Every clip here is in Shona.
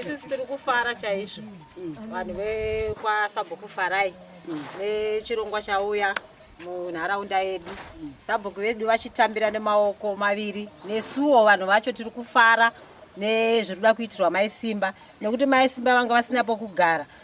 isisi tiri kufara chaizvo vanhu vekwasabhuku farai nechirongwa chauya munharaunda yedu sabhuku vedu vachitambira nemaoko maviri nesuwo vanhu vacho tiri kufara nezviri kuda kuitirwa maisimba nekuti maisimba vanga vasina pokugara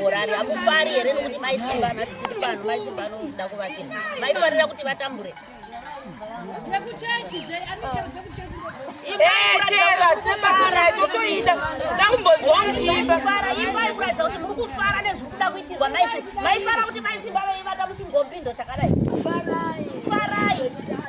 murari hamufari here nokuti mai simba nhasi tiri pano mai simba anoda kuvake maifanira kuti vatambure ndakumbonzwa muchiimba imbai kuratidza kuti muri kufara nezviri kuda kuitirwa maisi maifara kuti maisimba vaivata muchingombindo chakadai farai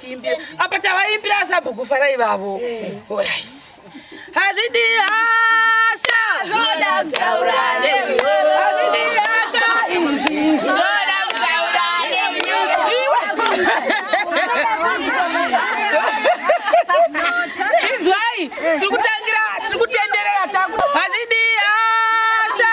tiimbira apa tavaimbira asabhuku farai vavo orit hazvidi hasha zvoda kutaura hazvidi hasha izvi zvoda kutaura inzwai tiri kutangira tiri kutenderera taku hazvidi hasha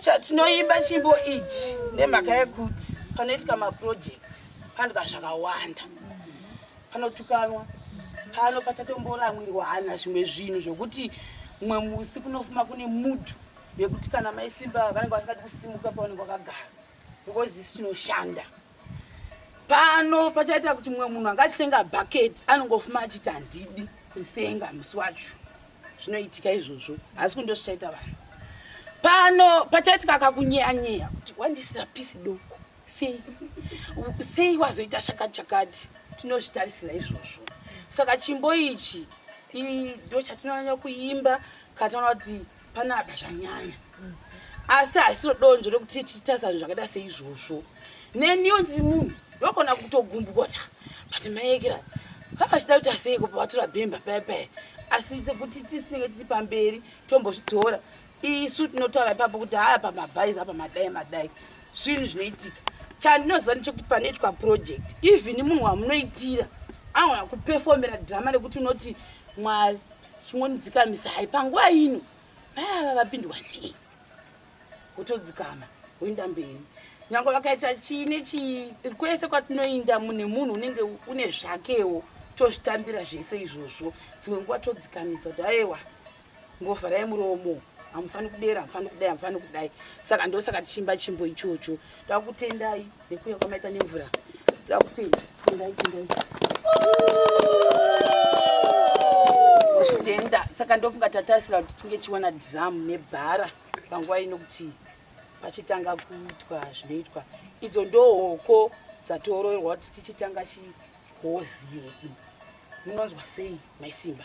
chatinoimba chimbo ichi nemhaka yekuti panoitika maprojects panoitika zvakawanda panotukanwa pano pachatomboramwirwa hana zvimwe zvinhu zvokuti mumwe musi kunofuma kune mudhu yekuti kana maisimba vanenge vasingati kusimuka pavanenge vakagara because isi tinoshanda pano pachaita kuti mumwe munhu angachisenga bhaketi anongofuma achiti handidi kusenga musi wacho zvinoitika izvozvo asi kundo zvichaita vanhu pano pachaitika kakunyeyanyeya kuti wandisira pisi doko sei sei wazoita chakati chakati tinozvitarisira izvozvo saka chimbo ichi ndo chatinonyanya kuimba kataona kuti panapa zvanyanya asi haisiro donzvo rekuti tichitasana zvakaita seizvozvo neniwo ndiri munhu ndogona kutogumbota but maekera vavachida kuti aseiko pavatora bhemba paya paya asi sekuti tisinenge tiri pamberi tombozvitora isu tinotaura ipapo kuti haya pamabhaizi apa madai madai zvinhu zvinoitika chandinoziva nechekuti panoitwa project even munhu wamunoitira anogona kupefomera drama rekuti unoti mwari chingonidzikamisa hai panguva ino vaya vavapindwa nei wotodzikama woenda mberi nyange vakaita chii nechii kwese kwatinoinda mune munhu unenge une zvakewo tozvitambira zvese izvozvo dzimwe nguva todzikamisa kuti aewa ngovharai muromo hamufaniri kudera hamufaniri kudai hamufaniri kudai saka ndosaka tichimba chimbo ichocho takutendai Nekuya kwamaita nemvura. Ndakuti tendai tendai. Tenda saka ndofunga tatarisira kuti tinge chiwana drum nebhara panguva ino kuti pachitanga kuitwa zvinoitwa idzo ndohoko dzatoroerwa kuti tichitanga chihozi yedu munonzwa sei maisimba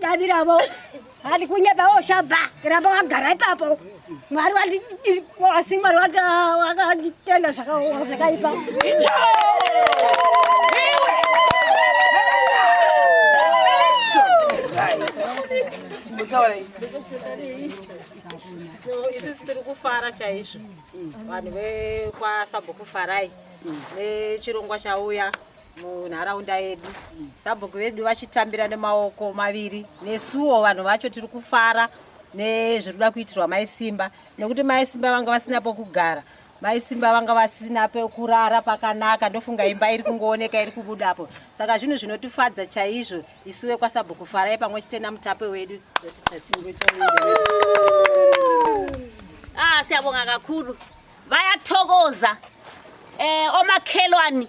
Davi ravo handi kunyeba woshabva ramba wagara ipapo mwari wasi mwari wakanditenda zvakaipa isisi tiri kufara chaizvo vanhu vekwasabokufarai nechirongwa chauya munharaunda yedu sabhuku vedu vachitambira nemaoko maviri nesuwo vanhu vacho tiri kufara nezviri kuda kuitirwa mai simba nekuti mai simba vanga vasina pokugara mai simba vanga vasina pekurara pakanaka ndofunga imba iri kungooneka iri kubudapo saka zvinhu zvinotifadza chaizvo isuwe kwasabhuku farai pamwe chete namutape wedu ah, siyabonga kakulu vayatokoza um eh, omakhelwani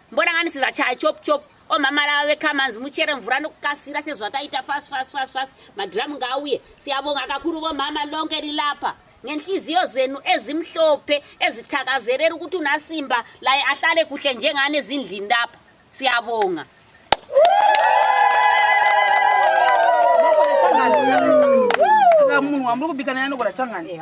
mboranganisiza chaya chop chop omama lava vekamanzi muchere mvura nokukasira sezvataita fast fast fast fast madhiramu ngaauye siyabonga kakuru vomama longe rilapa ngenhliziyo zenu ezimhlophe ezithakazerera ukuthi unasimba laye ahlale kuhle njengani ezindlini lapha siyabonga munhu wamuri kubika naye anogona changani eh,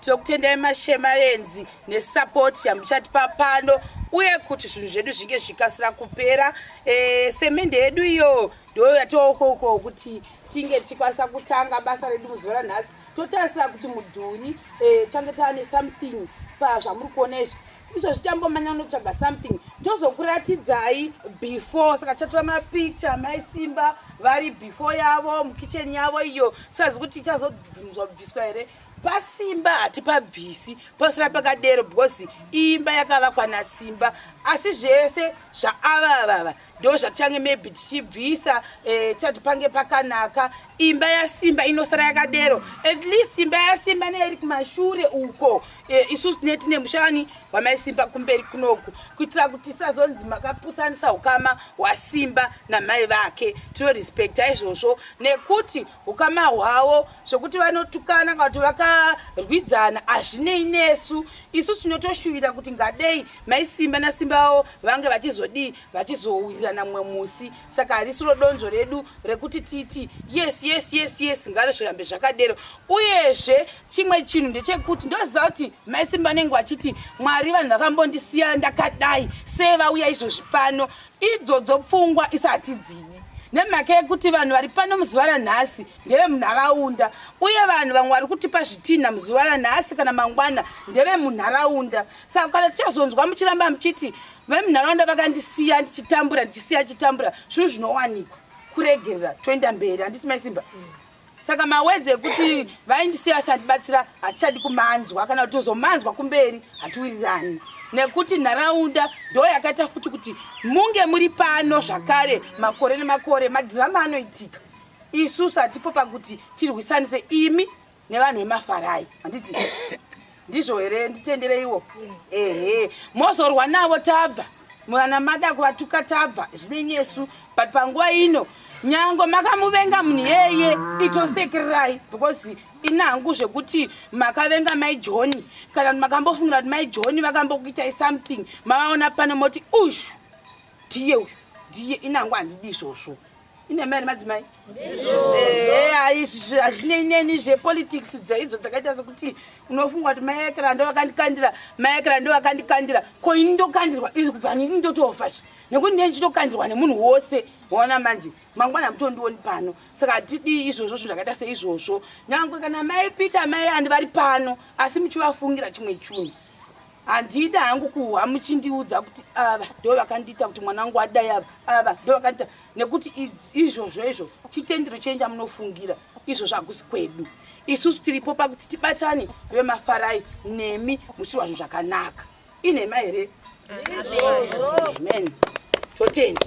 tinokutendai mashemarenzi nesapoti yamuchatipa pano uye kuti zvinhu zvedu zvinge zvichikasira kupera e, semende yedu iyo ndoyo yatookoko kuti tinge tichikwanisa kutanga basa redu muzuva ranhasi totarisira kuti mudhuri e, tange tava nesomething pazvamuri kuona izvi izvo zvichambomanya unotsvaga something tozokuratidzai before saka chatora mapicture mai simba vari before yavo mukitchen yavo iyo sazi kuti ichazobviswa here pasimba hatipabvisi posara pakadero because imba yakavakwa nasimba asi zvese zvaavavava ndo zvatichange maybe tichibvisa eh, tichati pange pakanaka imba yasimba inosara yakadero at least imba yasimba neiri kumashure uko eh, isusu tine tine mushani wamaisimba kumberi kunoku kuitira kuti isazonzi makaputsanisa ukama hwasimba namai vake tinorespecta izvozvo nekuti ukama hwavo zvekuti vanotukana kana kuti vakarwidzana hazvinei nesu isu tinotoshuvira kuti ngadei mai simba nasimba vavo vange vachizodii vachizowirirana mumwe musi saka harisiro donzvo redu rekuti titi yes yes yes yes ngarizvirambe zvakadero uyezve chimwe chinhu ndechekuti ndoziva kuti mai simba vanenge vachiti mwari vanhu vakambondisiya ndakadai sei vauya izvozvi pano Idzodzo pfungwa isati dzini nemhaka yekuti vanhu vari pano muzuva ranhasi ndeve munharaunda uye vanhu vamwe vari kutipa zvitinha muzuva ranhasi kana mangwana ndeve munharaunda saka kana tichazonzwa muchiramba muchiti vemunharaunda vakandisiya ndichitambura ndichisiya chitambura zvinhu zvinowanikwa kuregerera toenda mberi handiti maisimba mm. saka mawedzi ekuti vaindisiya vasandibatsira hatichadi kumanzwa kana kuti tozomanzwa kumberi hatiwirirani nekuti nharaunda ndo yakaita futi kuti munge muri pano zvakare makore nemakore madhirama anoitika isusu hatipo pakuti tirwisanise imi nevanhu vemafarai handiti ndizvo here nditendereiwo ehe mozorwa navo tabva mwana mada kuvatuka tabva zvine nyesu but panguva ino nyango makamuvenga munhu yeye itosekererai because inangu zvekuti makavenga mai johni kana kuti makambofungira kuti mai johni vakambokuitai something mavaona pano moti ushu ndiye uyu ndiye inangu handidi izvozvo ine mari madzimai izvi hazvinei neni zvepolitics dzaidzo dzakaita sokuti unofunga kuti maekera ndo vakandikandira maekera ndo vakandikandira ko ini ndokandirwa izvi kubva nini ndotoofazve nekuti ndee ndichitokandirwa nemunhu wose waona manje mangwana hamutondioni pano saka hatidii izvozvo zvinhu zvakaita seizvozvo nyange kana mai peter mai andi vari pano asi muchivafungira chimwe chunhu handidi hangu kuhwa muchindiudza kuti ava ndo vakandiita kuti mwana wangu adai ava ava ndo vakandiita nekuti izvozvo izvo chitendero chenja munofungira izvozvo hakusi kwedu isusu tiripo pakuti tibatane vemafarai nemi muchiwa zvinhu zvakanaka inhema here amen totenda